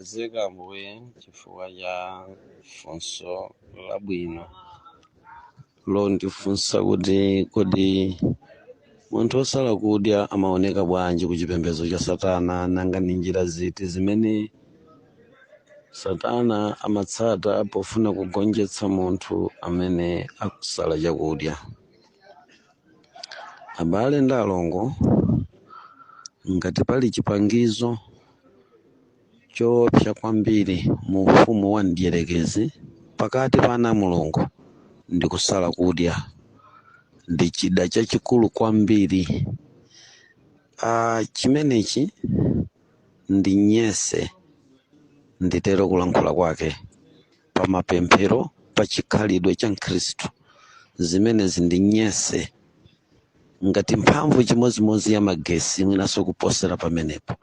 zikomo ambuye chifukwa cha funso labwino londifunsa kuti kodi munthu osala kudya amaoneka bwanji ku chipembedzo cha satana nanga ndi njira ziti zimene satana amatsata pofuna kugonjetsa munthu amene akusala chakudya abale ndi alongo ngati pali chipangizo choopsa kwambiri mu ufumu wa mdierekezi pakati pa ana a mulungu ndi kusala kudya ndi chida chachikulu kwambiri ah, chimenechi ndi nyese nditero kulankhula kwake pa mapemphero pa chikhalidwe cha mkhristu zimenezi ndi nyese ngati mphamvu chimodzimodzi ya magetsi mwinanso kuposera pamenepo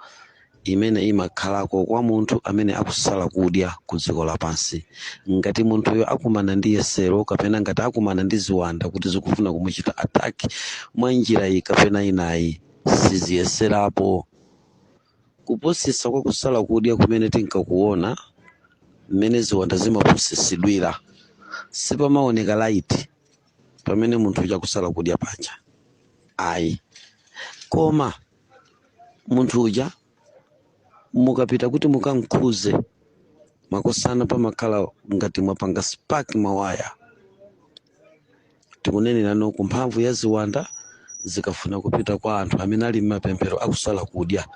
imene imakhalako kwa munthu amene akusala kudya ku dziko lapansi ngati munthuyo akumana ndi yesero kapena ngati akumana ndi ziwanda kuti zikufuna kumuchita ataki mwa njira iyi kapena inayo siziyeserapo Kupusitsa kwa kusala kudya kumene tinkakuona mmene ziwanda zimapusitsidwira sipamaoneka laiti pamene munthu uja akusala kudya panja ayi koma munthu uja mukapita kuti mukamkhudze makosana pamakhala ngati mwapanga spark mawaya tikunenerano ku mphamvu ya ziwanda zikafuna kupita kwa anthu amene ali m'mapemphero akusala kudya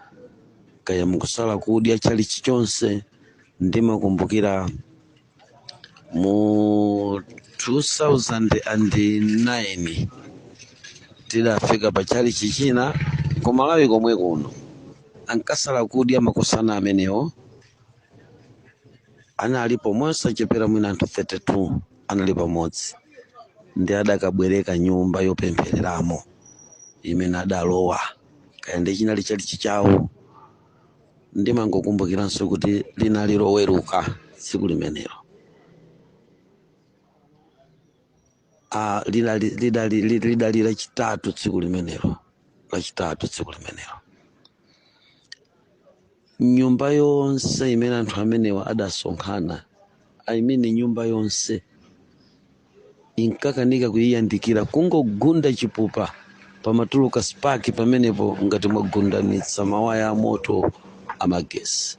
kaya mukusala kudya chalichi chonse ndimakumbukira mu 2009 tidafika pa chalichi china ku malawi komwe kuno ankasala kudya makosana amenewo analipo mosachepera mwina anthu 32 anali pamodzi ndi adakabwereka nyumba yopemphereramo imene adalowa kaya ndi chinali chalichi chawo ndimangokumbukiranso kuti linali loweruka tsiku limenelo Ah, lidali lidali- lidali lachitatu tsiku limenelo lachitatu tsiku limenelo nyumba yonse imene anthu amenewa adasonkhana i mean nyumba yonse inkakanika kuyandikira kungogunda chipupa pamatuluka spark pamenepo ngati mwagundanitsa mawaya a moto amagetsi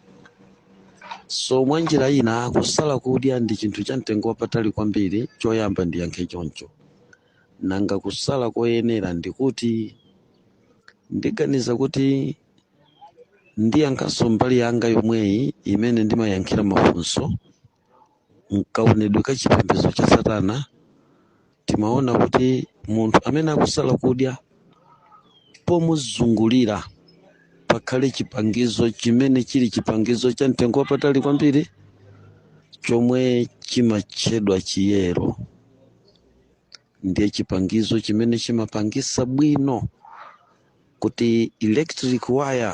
so mwa njira ina kusala kudya ndi chinthu cha mtengo wapatali kwambiri choyamba ndiyankhe choncho nanga kusala koyenera ndikuti ndiganiza kuti ndiyankhenso mbali yanga yomweyi imene ndimayankhira mafunso mkaonedwe ka chipembedzo cha satana timaona kuti munthu amene akusala kudya pomuzungulira pakhale chipangizo chimene chili chipangizo cha mtengo wapatali kwambiri chomwe chimatchedwa chiyero ndiye chipangizo chimene chimapangisa bwino kuti electric wire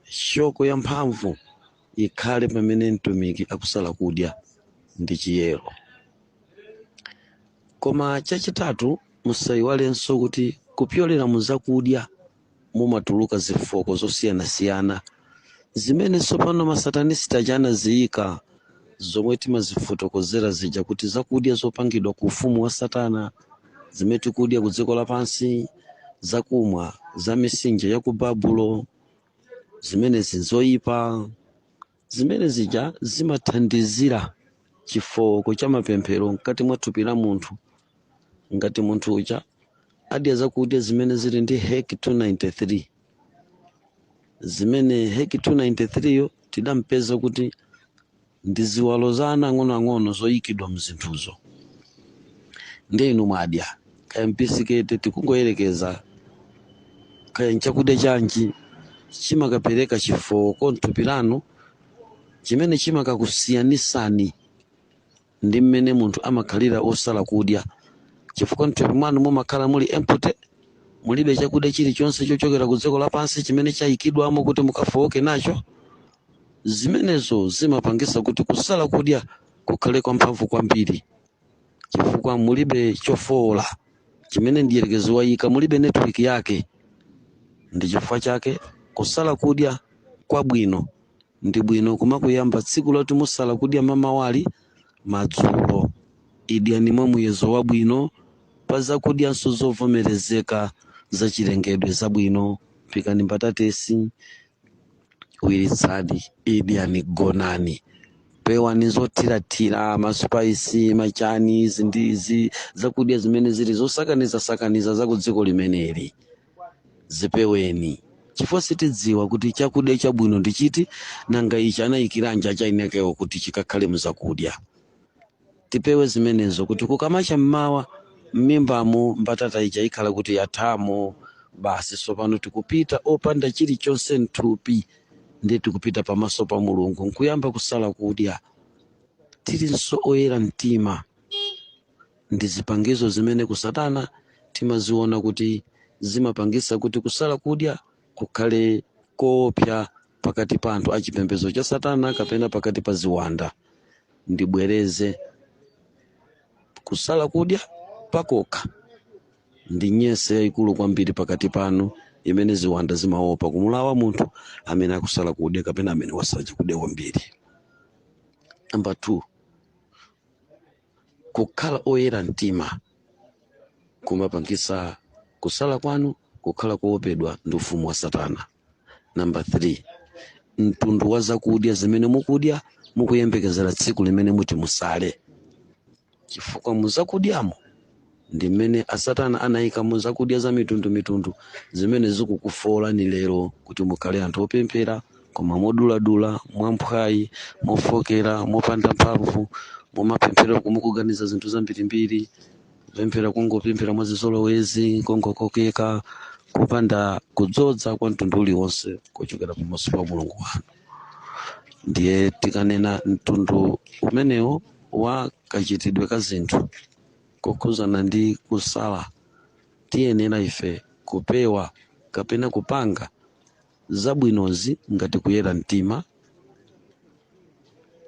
shoko ya mphamvu ikhale pamene mtumiki akusala kudya ndi chiyero koma chachitatu musayiwalenso kuti kupyolera mu zakudya mumatuluka zifooko zosiyanasiyana zimene tsopano masatanisiti aja anaziyika zomwe timazifotokozera zija kuti zakudya zopangidwa ku ufumu wa satana zimene tikudya ku dziko lapansi zakumwa za mitsinje ya ku babulo zimenezi nzoyipa Zimene zija zimathandizira chifooko cha mapemphero mkati mwa thupi la munthu. Ngati munthu uja adya zakudya zimene zili ndi Hec 293 zimene Hec 293 yo tidampeza kuti ndi ziwalo za ana ang'onoang'ono zoyikidwa mzinthuzo, ndiye inu mwadya bisiketi tikungoyerekeza kaya nchakudya chanji chimakapereka chifooko mthupi lanu chimene chimakakusiyanisani ndi mmene munthu amakhalira wosala kudya chifukwa mthupi mwanu mumakhala muli empty mulibe chakudya chilichonse chochokera ku dziko lapansi chimene chayikidwamo kuti mukafooke nacho zimenezo zimapangisa kuti kusala kudya kukhale kwamphamvu kwambiri chifukwa mulibe chofoola chimene mdierekezi wayika, mulibe netiweki yake. Ndi chifukwa chake kusala kudya kwabwino ndi bwino kumakuyamba tsiku loti musala kudya mamawali madzulo. Idyani mwa muyezo wabwino pa zakudyanso zovomerezeka zachilengedwe zabwino. Phikani mbatatesi, wiritsani idyani gonani pewani zothirathira maspaisi machani izi ndi izi zakudya zimene zili zosakanizasakaniza za ku dziko limeneli zipeweni chifukwa sitidziwa kuti chakudya chabwino ndi chiti nanga icho anayikiranji achayinawo kuti chikakhale muzakudya tipewe zimenezo kuti kukamacha mmawa mmimbamu mbatata ija ikhala kuti yathamo basi tsopano tikupita opanda chilichonse mthupi ndiye tikupita pamaso pa mulungu nkuyamba kusala kudya tilinso oyera mtima ndi zipangizo zimene kusatana timaziona kuti zimapangisa kuti kusala kudya kukhale koopsya pakati pa anthu a chipembedzo cha satana kapena pakati pa ziwanda ndibwereze kusala kudya pakokha ndi nyese yayikulu kwambiri pakati panu imene ziwanda zimaopa kumulawa munthu amene akusala kudya kapena amene wasala chakudya kwambiri namba 2 kukhala oyera mtima kumapangisa kusala kwanu kukhala koopedwa ndi ufumu wa satana namba 3 mtundu wa zakudya zimene mukudya mukuyembekezera tsiku limene muti musale chifukwa muzakudyamo ndi mmene a satana anayika muzakudya za mitundu mitundu zimene zikukufoolani lero kuti mukhale anthu opemphera koma moduladula mwamphwayi mofokera mopanda mphamvu mumapemphera koma mukuganiza zinthu zambirimbiri kupemphera kungopemphera mwachizolowezi kongokokeka kupanda kudzodza kwa mtundu uliwonse kuchokera pamaso pa mulungu wanu ndiye tikanena mtundu umenewo wa kachitidwe ka zinthu kokhuzana ndi kusala, tiyenera ife kupewa kapena kupanga zabwinozi ngati kuyera mtima,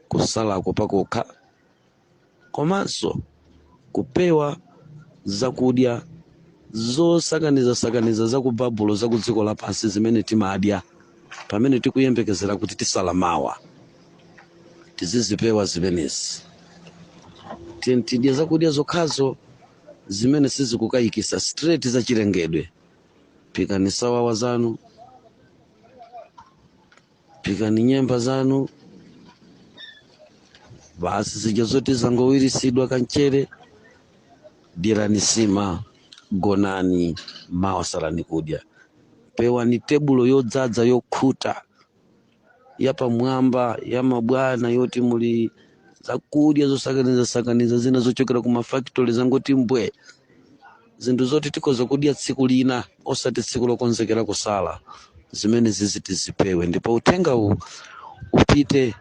kusalako pakokha, komanso kupewa zakudya zosakanizasakaniza za ku Babulo za ku dziko lapansi zimene timadya pamene tikuyembekezera kuti tisala mawa. tizizipewa zimenezi Ti- tidye zakudya zokhazo zimene sizikukayikisa straight za chilengedwe phikani sawawa zanu phikani nyemba zanu basi zija zoti zangowirisidwa kamchere dyerani sima gonani mawa salani kudya pewani tebulo yodzadza yokhuta yapamwamba ya mabwana yoti muli zakudya zosakanizasakaniza zina zochokera ku mafactory zangoti mbwe zinthu zoti tikhoza kudya tsiku lina osati tsiku lokonzekera kusala zimenezizi tizipewe ndipo uthenga uwu upite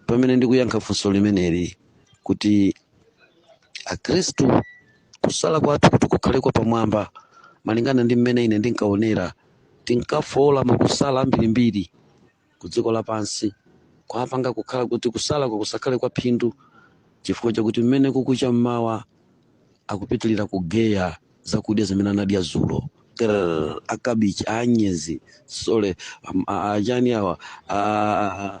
pamene ndikuyankha funso limeneli kuti akhristu kusala kwathu kuti kukhale kwa pamwamba malingana ndi mmene ine ndinkaonera Tinkafoola makusala ambirimbiri ku dziko lapansi, kuwapanga kukhala kuti kusalako kusakhale kwa phindu chifukwa chakuti mmene kukucha mmawa akupitirira kugeya zakudya zimene anadya dzulo. Grr! Akabichi, a anyezi, sorry, am, a, a chani awa, a, a, a,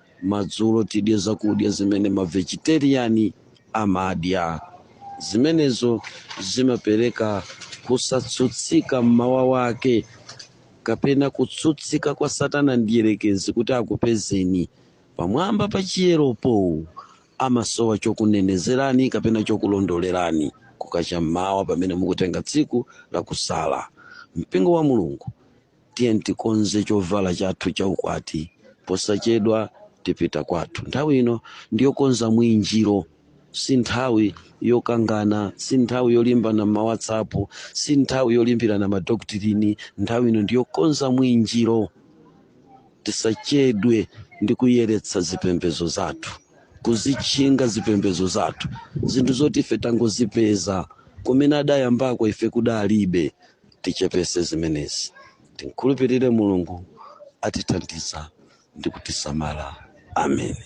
madzulo tidye zakudya zimene mavegeteriani amadya zimenezo zimapereka kusatsutsika mmawa wake kapena kutsutsika kwa satana mdierekezi kuti akupezeni pamwamba pa chiyeropo amasowa chokunenezerani kapena chokulondolerani kukacha mmawa pamene mukutenga tsiku la kusala mpingo wa mulungu Tiyeni tikonze chovala chathu cha ukwati. Posachedwa tipita kwathu. Nthawi ino ndi yokonza mwinjiro. Si nthawi yokangana. Si nthawi yolimbana m'maWhatsApp. Si nthawi yolimbirana madoktrini. Nthawi ino ndi yokonza mwinjiro. Tisachedwe ndi kuyeretsa zipembedzo zathu, kuzitchinga zipembedzo zathu, zinthu zoti ife tangozipeza. Kumene adayambako ife kudalibe. tichepese zimenezi timkhulupirire mulungu atithandiza ndi kutisamala ameni